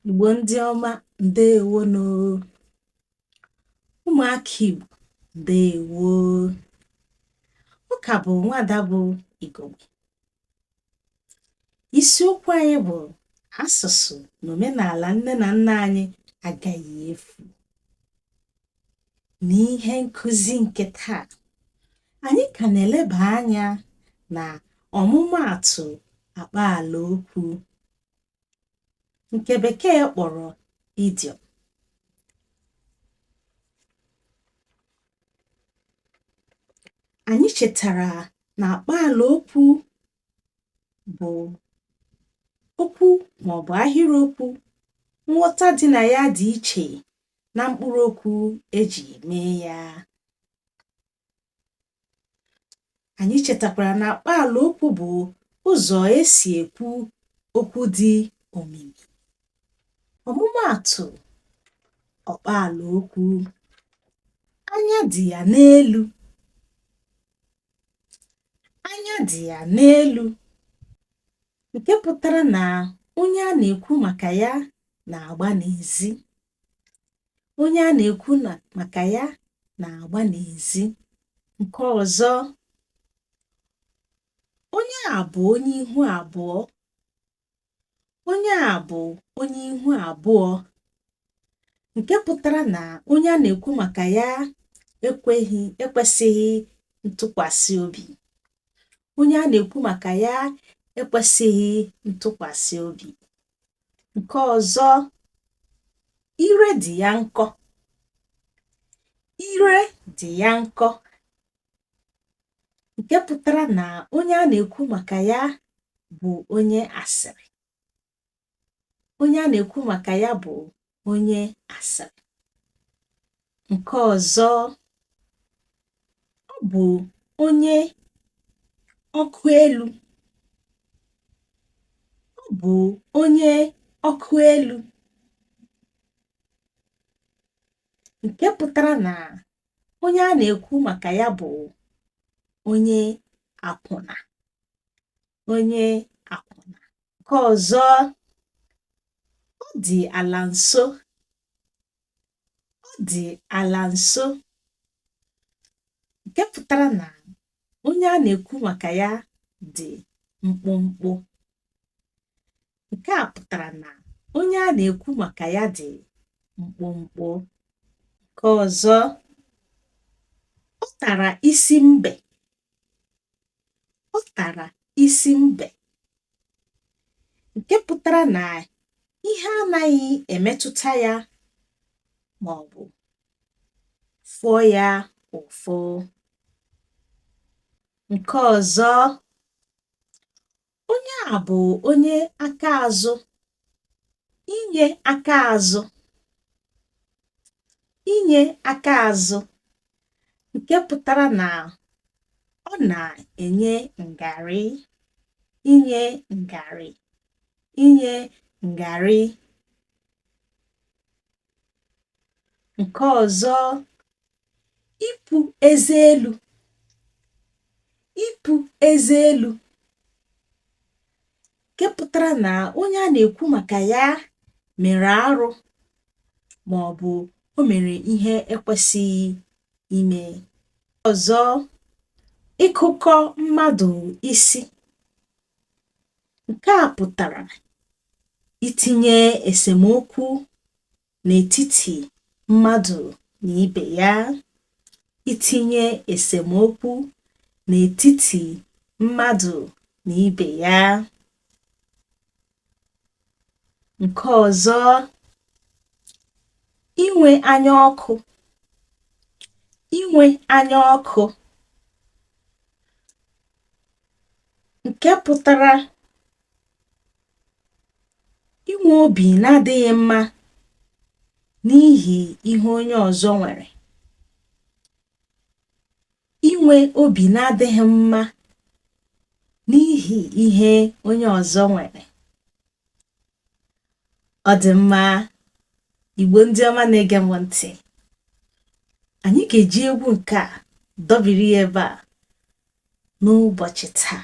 Igbo ndị ọma ndewonụ ụmụaka Igbo ndewo ọ ka bụ nwada bụ Igogbe isiokwu anyị bụ asụsụ na omenala nne na nna anyị agaghị efu n'ihe nkuzi nke taa anyị ka na-eleba anya na ọmụmaatụ akpaala okwu nke bekee kpọrọ idiom anyị chetara na akpaala okwu bụ okwu maọbụ ahịrịokwu nghọta dị na ya dị iche na mkpụrụ okwu eji mee ya Anyị chetakwara na akpaala okwu bụ ụzọ esi ekwu okwu dị omimi. Ọmụmaatụ akpaala okwu anya dị ya n'elu anya dị ya n'elu nke pụtara na onye a na-ekwu maka ya na-agba n'ezi. onye a na-ekwu maka ya na-agba n'ezi nke ọzọ onye a bụ onye ihu abụọ onye a bụ onye ihu abụọ nke pụtara na onye a na-ekwu maka ya ekweghị ekwesịghị ntụkwasị obi onye a na-ekwu maka ya ekwesịghị ntụkwasị obi nke ọzọ ire dị ya nkọ ire dị ya nkọ nke pụtara na onye a na-ekwu maka ya bụ onye asịrị onye a na-ekwu maka ya bụ onye asịrị nke ọzọ ọ bụ onye ọkụ elu ọ bụ onye ọkụ elu nke pụtara na onye a na-ekwu maka ya bụ onye akwụna onye akwụna nke ọzọ ọ dị ala nso ọ dị ala nso nke pụtara na onye a na-ekwu maka ya dị mkpụmkpụ nke a pụtara na onye a na-ekwu maka ya dị mkpụmkpụ nke ọzọ ọ tara isi mbe ọ tara isi mbe nke pụtara na ihe anaghị emetụta ya ma ọ bụ fụọ ya ụfụ nke ọzọ onye a bụ onye aka azụ inye aka azụ inye aka azụ nke pụtara na ọ na-enye ngarị inye ngarị inye ngarị Nke ọzọ, ipu eze elu. Ipu eze elu nke pụtara na onye a na-ekwu maka ya mere arụ ma ọ bụ o mere ihe ekwesịghị ime. Ọzọ, ịkụkọ mmadụ isi. Nke a pụtara itinye esemokwu n'etiti mmadụ na ibe ya itinye esemokwu n'etiti mmadụ na ibe ya nke ọzọ inwe anya ọkụ inwe anya ọkụ nke pụtara Inwe obi na-adịghị mma n'ihi ihe onye ọzọ nwere. Inwe obi na-adịghị mma n'ihi ihe onye ọzọ nwere. Ọ dị mma Igbo ndị ọma na-ege m ntị. Anyị ga-eji egwu nke a dọbiri ya ebe a n'ụbọchị taa.